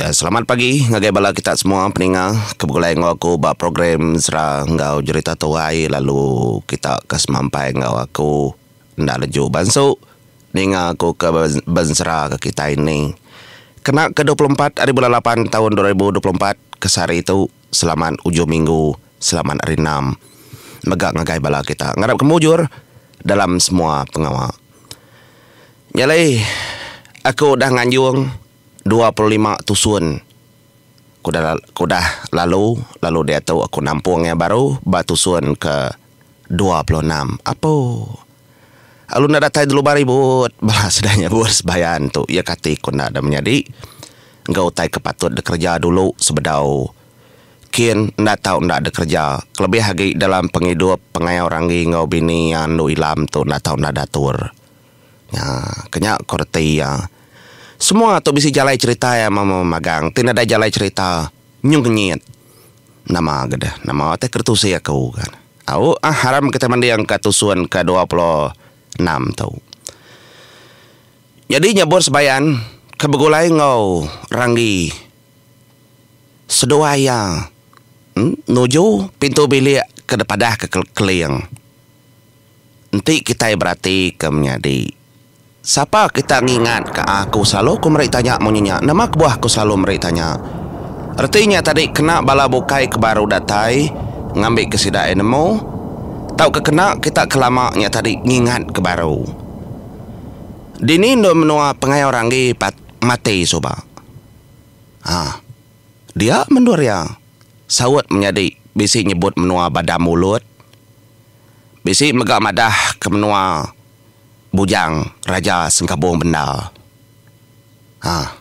Ya selamat pagi ngagai bala kita semua peninga ke begulai enggau aku ba program Zra enggau Jerita Tuai lalu kita ke semampai enggau aku enda leju bansu ninga aku ke benzra ke kitai ni kena ke dua puluh empat ari bulan lapan taun dua ribu dua puluh empat ke sehari tu selamat ujung minggu selamat hari enam mega ngagai bala kita ngarap ke mujur dalam semua pengawa. Nyalai aku udah nganjung. Dua puluh lima tusun ke udah lalu, lalu diatu aku nampung iya baru ba tusun ke dua puluh enam. Apo. Alu enda datai dulu ba ribut bala sida nyebut sebayan tu. Iya kati ku enda ada menyadi enggau utai ke patut dikereja dulu sebedau kin enda tau enda dikereja kelebih agi dalam pengidup pengayau ranggi enggau bini iya andu ilam tu enda tau enda datur. Nya, kenya ko reti iya. Semua tu bisi jalai cherita iya mama magang ti nadai jalai cherita nyung kenyit. Nama ga deh, nama teh ke ditusi aku ga ne. Au ah haram kitai manding ka tusun ke dua pulo enam tu. Nyadi nyebut sebayan ke begulai enggau ranggi seduai iya nuju pintu bilik ke dipadah ke keling. Enti kitai beratika menyadi, sapa kita ngingatka aku selalu ku meri tanya munyi nya? Nama kebuah aku selalu meri tanya? Reti nya tadi kena bala bukai ke baru datai ngambika sida ai nemu tauka kena kita ke lama nya tadi ngingatka baru. Dini endur menua pengayau ranggi pat mati suba? Ha. Dia mendur iya, saut menyadi bisi nyebut menua Badam Ulud. Bisi mega madah ke menua Bujang Raja Sengkabong bendar. Ha.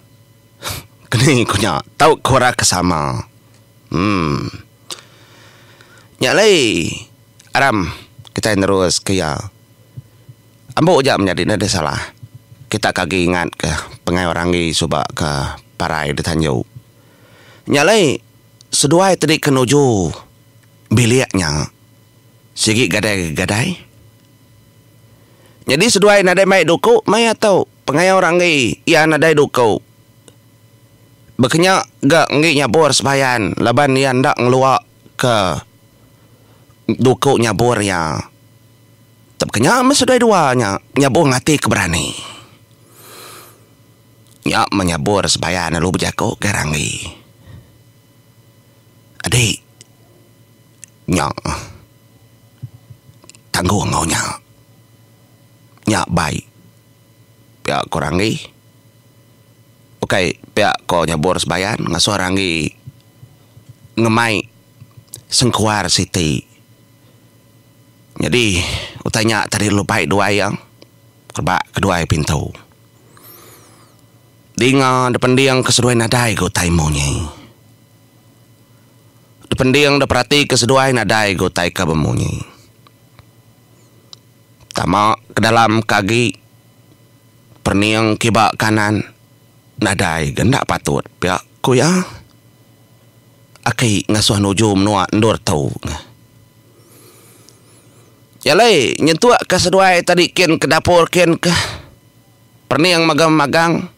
Keni ku nya tau ku ra ke sama. Emm. Nya alai aram kitai nerus ke iya. Ambo aja menyadi ne deh salah. Kita ke agi ingat ke pengai orang agi suba ke parai di tanju. Nya alai seduai tadi ke nuju. bilik nya sigi gadai-gadai. Nyadi seduai nadai mai duku maya tu pengaya orang enggi iya nadai duku bekenya ga enggi nyabur sembayan laban iya enda ngelua ke duku nyabur iya. Tepekenya meh seduai dua nya nyabur ngati ke berani. Nya menyabur sembayan lalu bejaku ke ranggi. Adi nya tanggung enggau nya. Nya bai pia ko ranggi ukai pia ko nyebur sebayan ngasuh ranggi ngemai sengkuar siti. Nyadi utai nya tadi lu bai duai iya rebak keduai pintu. Dinga da pending ke seduai nadai ga utai munyi. Da pending da perati ke seduai nadai ga utai ka bemunyi. Tama ke dalam ka agi pening kiba kanan nadai ga enda patut pia ku iya. Aki ngasuh nuju menua endur tu. Jalai nyentuk ka seduai tadi kin ke dapur kin ke pening mega magang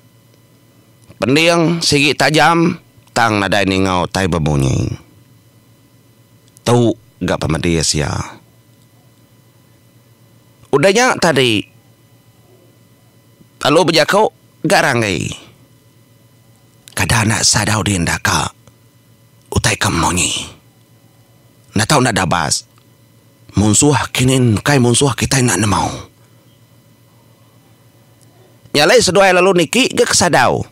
pening sigi tajam tang nadai ningau tai bebunyi. Tu ga pemedis iya. Udah nya tadi lalu bejaku ga ranggi kada enda sadau dinda ka utai ke munyi. Enda tau enda dabas. Munsuh kinin kai munsuh kitai enda nemau. Nya alai seduai lalu niki ga ke sadau.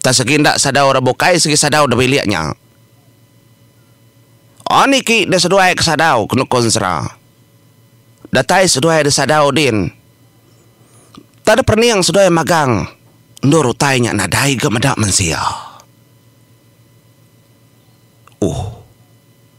Tang segi enda sadau ra bukai segi sadau da bilik nya. Oh niki da seduai ke sadau ke nukun sera. Datai seduai da sadau din. Tang da perening seduai magang endur utai nya nadai ga meda mensia. Uh.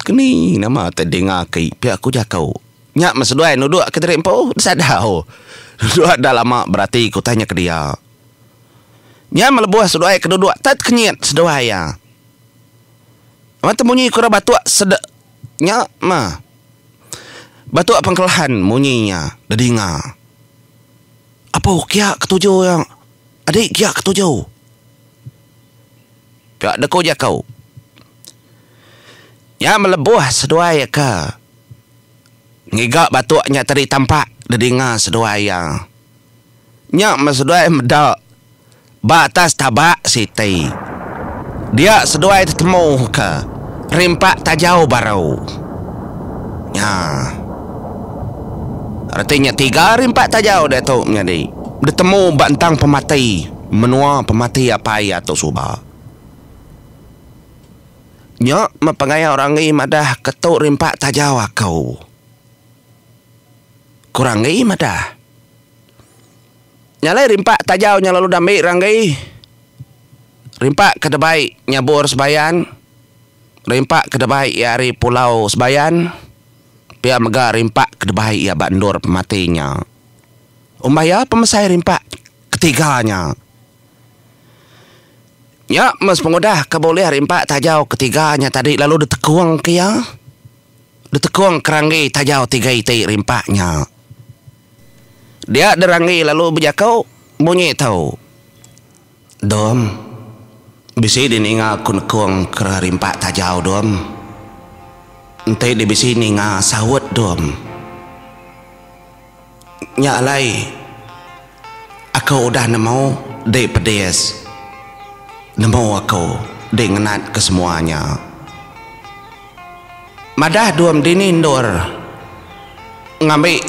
Keni nama te dinga aki pia ku jaku. Nya meh seduai nuduk kenteri empu sadau. Dua enda lama berati ku tanya ke dia. Nya meh lebuh seduai ke duduk tet kenyit seduai iya. Meh te munyi ku ra batuk sede nya meh. Batuk pengkelahan munyi iya da dinga. Apo kia ketuju iya. Adi kia ketuju. Ka deku jaku nya melebuh seduai iya ke ngiga batuk nya tadi tampak didinga seduai iya. Nya meh seduai meda ba atas tabak siti. Dia seduai tetemu ke rimpak tajau baru. Nya reti nya tiga rimpak tajau diatu menyadi betemu ba entang pemati. menua pemati apai iya tu suba. Nya meh pengayak Ranggi madah ke tu rimpak taja aku. Ku Ranggi madah. Nya alai rimpak taja nya lalu dambi Ranggi. Rimpak ke debai nyabur sebayan, rimpak ke debai iya ari pulau sebayan, pia mega rimpak ke debai iya ba endur pemati nya. Umbah iya pemesai rimpak. Ketiga nya. Nya meh sepengudah ke bulih ari empat tajau ketiga nya tadi lalu ditekung ke iya. Ditekung ke ranggi tajau tiga iti ari empat nya. Dia diranggi lalu bejaku munyi tu, Dum, bisi di ninga aku nekung ke ari empat tajau, Dum. Enti dibisi ninga saut, Dum. Nya alai aku udah nemu di pedis nemu aku di ngenat ke semua nya. Madah Duam dini endur ngambi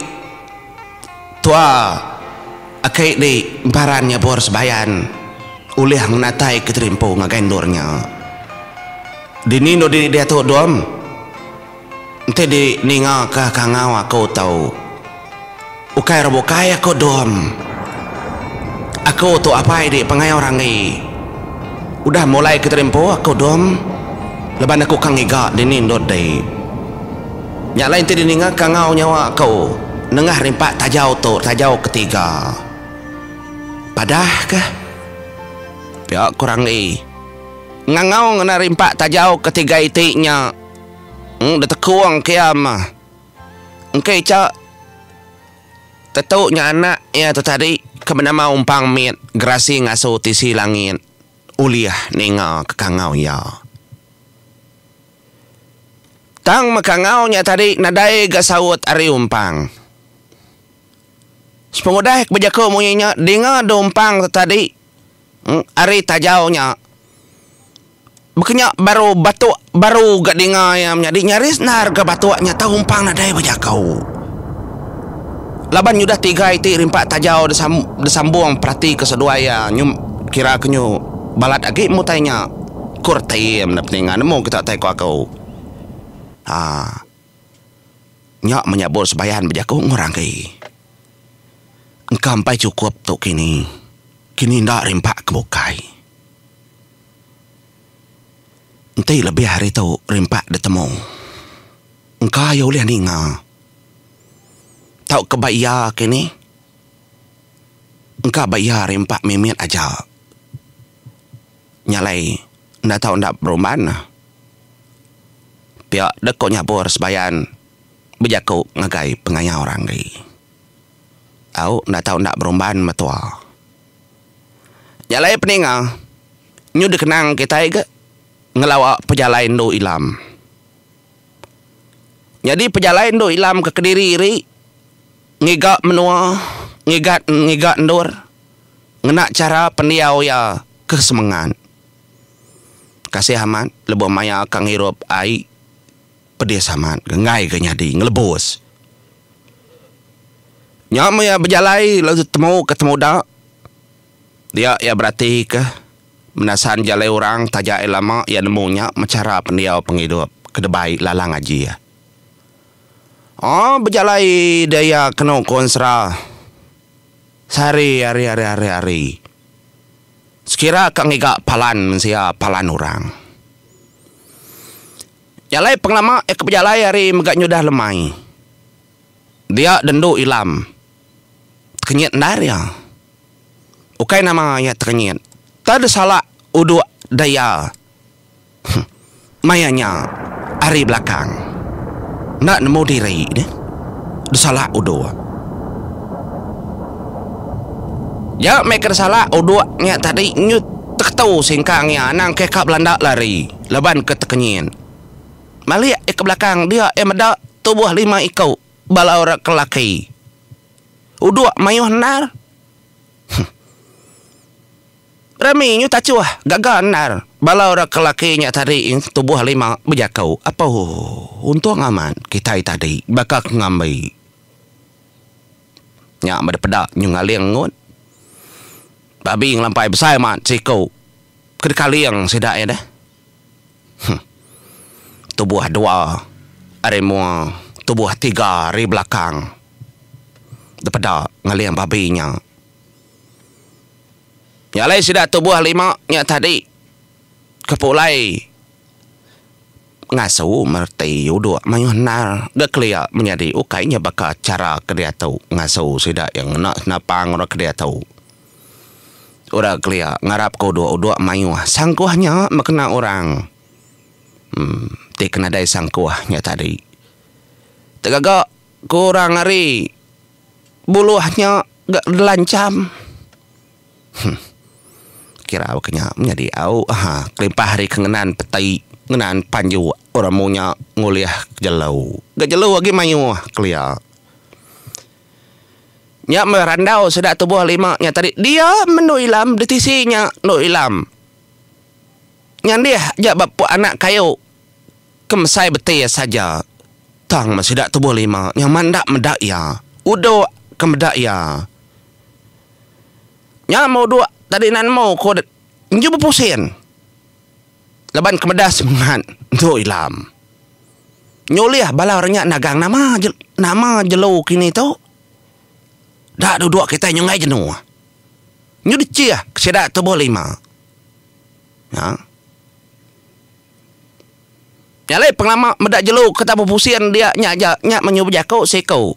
tua aki di Paran Nyabur Sebayan ulih ngenatai ke terimpu ngagai endur nya. Dini endur dini diatu Duam? Enti di ninga ka kangau aku tu ukai ra bukai aku dom. Aku tu apai di pangai orang ngi udah mulai ke terimpu aku dom laban aku ka ngiga dini ndut di. Nya alai enti di ninga kangau nyawa aku nengah rimpak tajau tu tajau ke tiga. Padah ke. Pia ku Ranggi. Ngangau ngena rimpak tajau ke tiga iti nya. Eng detekong kiam mah. Engka icha tetu nya anak iya tu tadi ke benama Umpang mit gerasi ngasu tisi langit ulih ninga kekangau iya. Tang mekangau nya tadi nadai ga saut ari Umpang. Sepengudah ke bejaku munyi nya dinga du Umpang tu tadi. Ari tajau nya, bekenya baru batuk baru ga dinga iya menyadi nyaris endar ga batuk nya tau umpang nadai ba jaku. Laban nyudah tiga iti rimpa tajau disambung peratika seduai iya kira ke nyu balat agi mu utai nya, ku reti iya meda peninga nemu kita utai ku aku. Haa. Nya menyabut sebayan bejaku enggau orang agi. Engka empai chukup tu kini. Kini enda rimba ke bukai. Enti lebih ari tu rimba ditemu. Engka iya ulih ninga. Tauka ba iya kini. Engka ba iya rimba mimit aja. Nya alai. enda tau enda berumban. Pia deh ko nyabur sebayan bejaku ngagai pengaya orang agi. Au enda tau enda berumban metua. Nya alai peninga nyu dikenang kitai ga ngelawa pejalai endu Ilam. Nyadi pejalai endur ilam ke kediri iri ngiga menua ngiga ngiga endur ngena chara pendiau iya ke semengat. Kasih amat lebuh maya ka ngirup ai pedis amat ke enggai ke nyadi ngelebus. Nya meh iya bejalai lalu temu ke temuda. Dia iya beratika menasan jalai orang taja iya lama iya nemu nya mechara pendiau pengidup ke debai lalang aji iya. Aaa bejalai deh iya kenu ku ensera sehari hari hari hari hari. Sekira ka ngiga palan mensia palan orang. Jalai pengelama iya ke bejalai hari mega nyudah lemai. Dia dendu ilam. tekenyit endar iya. Ukai nama iya tekenyit, tang disalak uduk da iya maya nya ari belakang enda nemu diri deh disalak uduk. Nya meh ke disalak uduk nya tadi nyut teketu singkang iya anang ke ka belanda lari laban ke tekenyit. Malik iya ke belakang dia iya meda tubuh lima iku. bala orang ke laki. Udok mayuh endar. Huh. Rami nyu tachuh gaga endar bala orang ke laki nya tadi tubuh lima bejaku. Apuh. Untung amat kitai tadi baka ke ngambi. Nya meda peda nyu ngaling engun. Babi ngelampai besai mat siku ke dikaling sida iya deh. Huh. Tubuh dua ari mua tubuh tiga ari belakang. Dipeda ngeling babi nya. Nya alai sida tubuh lima nya tadi ke pulai ngasu mereti uduk mayuh endar ga kelia menyadi ukai nya baka chara ke diatu ngasu sida iya ngena senapang orang ke diatu. Orang kelia ngarap ke udok, udok mayuh. Sangkuh nya meh kena orang uhh ti ke nadai sangkuh nya tadi. Tegaga ku orang ari Buloh nya ga lancham huh kira baka nya menyadi au ha kelimpah ari ke ngenan peti ngenan panjuk orang munyak ngulih jelu. Ga jelu agi mayuh kelia. Nya meh randau sida tubuh lima nya tadi dia mendu ilam ditisi nya endu ilam nyandih aja ba puk anak kayu ke mesai betis aja tang meh sida tubuh lima nya meh enda meda iya udok ke meda iya nya meh udok tadi nemu ko deh enju bepusin. Laban kemeda semengat entu Ilam nyulih bala orang nya nagang nama nama jelu kini tu da duduk kitai nyunggai jenu nyu dechih ke sida tubuh lima nya nya alai pengelama meda jelu ke tabuh pusing dia nya aja nya menyuh bejaku siku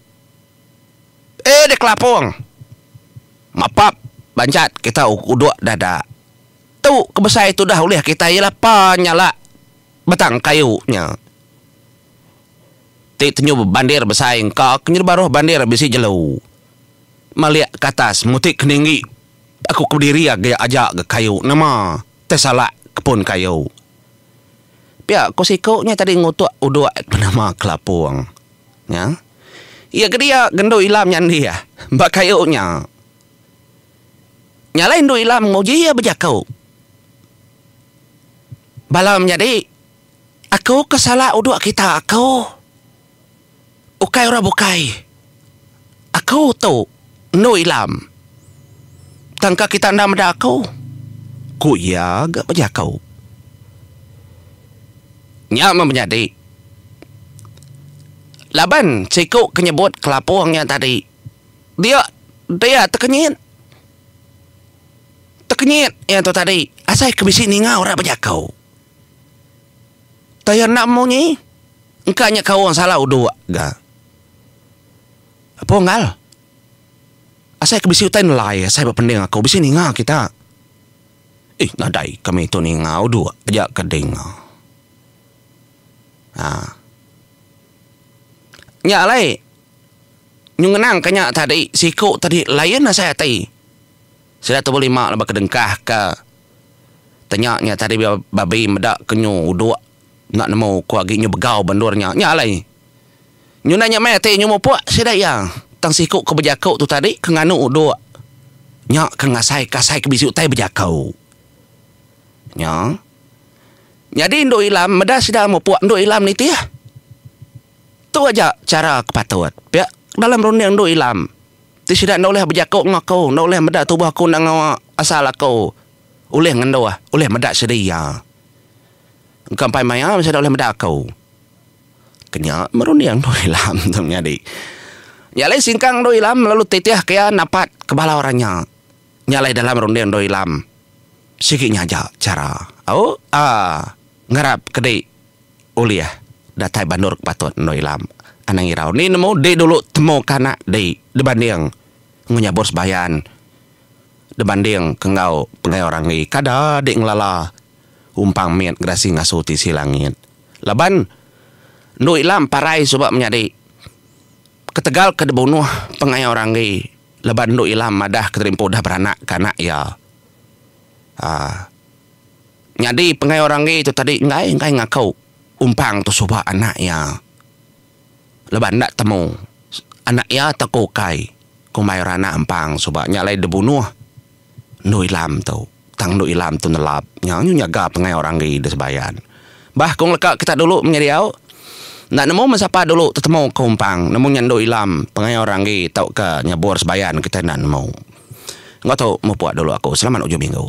eh dikelapung mapap bancat kita uduk dada. Tu ke besai tudah ulih kitai iya lah penyala batang kayu nya ti tenyu bebandir besai engka ke nyadi baruh bandir bisi jelu malik ke atas muti ke ninggi aku ke bediri agi aja ga kayu nama tai salak ke pun kayu. Pia ku siku nya tadi ngutuk uduk ke nama kelapung nya iya ke dia gendu ila menyandi ba kayu nya. Nyalai Endu Ilam nguji iya bejaku. Bala menyadi, aku ke salah uduk kita aku. Ukai orang bukai. Aku tu Endu Ilam. Tangka kita enda meda aku, ku iya ga bejaku. Nya meh menyadi laban siku ke nyebut kelapung iya tadi. Dia dia tekenyit tekenyit iya tu tadi asai ke bisi ninga orang bejako. Tau iya enda munyi engka nya kaul salau udok ga. Apo Enggau asai ke bisi utai nelai asai ba pending aku bisi ninga kita. Ih nadai kami tu ninga udok aja ke dinga. Haa nya alai. Nyu ngenang ka nya tadi siku tadi lain asai ati. Sida tubuh lima laban ke dengkah ka tanya nya tadi babi meda ke nyu udok enda nemu ko agi nyu begau ba endur nya. Nya alai nyu enda nya meh ati nyu mupok sida iya tang siku ke bejako tu tadi ke nganu udok nya ke ngasai ka asai ke bisi utai bejako nya. Nyadi endu ilam meda sida mupuk endu ilam nitih. Tu aja chara ke patut. Pia dalam runding endu ilam ti sida enda ulih bejaku enggau aku, enda ulih meda tubuh aku enda enggau asal aku ulih ngenduh, ulih meda sida iya. Engka empai maya sida ulih meda aku. Ke nya merunding endu ilam tu nyadi. Nya alai singkang endu ilam lalu titih ke iya napat ke bala orang nya. Nya alai dalam runding endur ilam sigi nyaja chara au a ngarap ke dei ulih datai bandur ke patut endur ilam anang irau ni nemu dei dulu temu ke anak dei dibanding enggau nyabur sebayan dibanding ke enggau pegayau ranggi kada dei ngelala umpang mit gerasi ngasu tisi langit laban endur ilam parai suba menyadi ketegal ke dibunuh pengayau ranggi. Laban Endu Ilam madah Keterimpu udah beranak ke anak iya. Aa. Nyadi penggai orang enggi tu tadi enggai enggai ngaku Umpang tu suba anak iya. Laban enda temu anak iya tauka ukai kumbai orang anak Umpang suba nya alai dibunuh. Endu Ilam tu. Tang endu Ilam tu nelap nyau nyu nyaga pengai orang agi di Sebayan. Bah kong leka kita dulu menya diau. Enda nemu meh sapa dulu tetemu ke Umpang nemu nya endu Ilam pengai orang agi tauka nyebur Sebayan kita enda nemu. Enggau tu mupuk dulu aku. Selamat ujung minggu.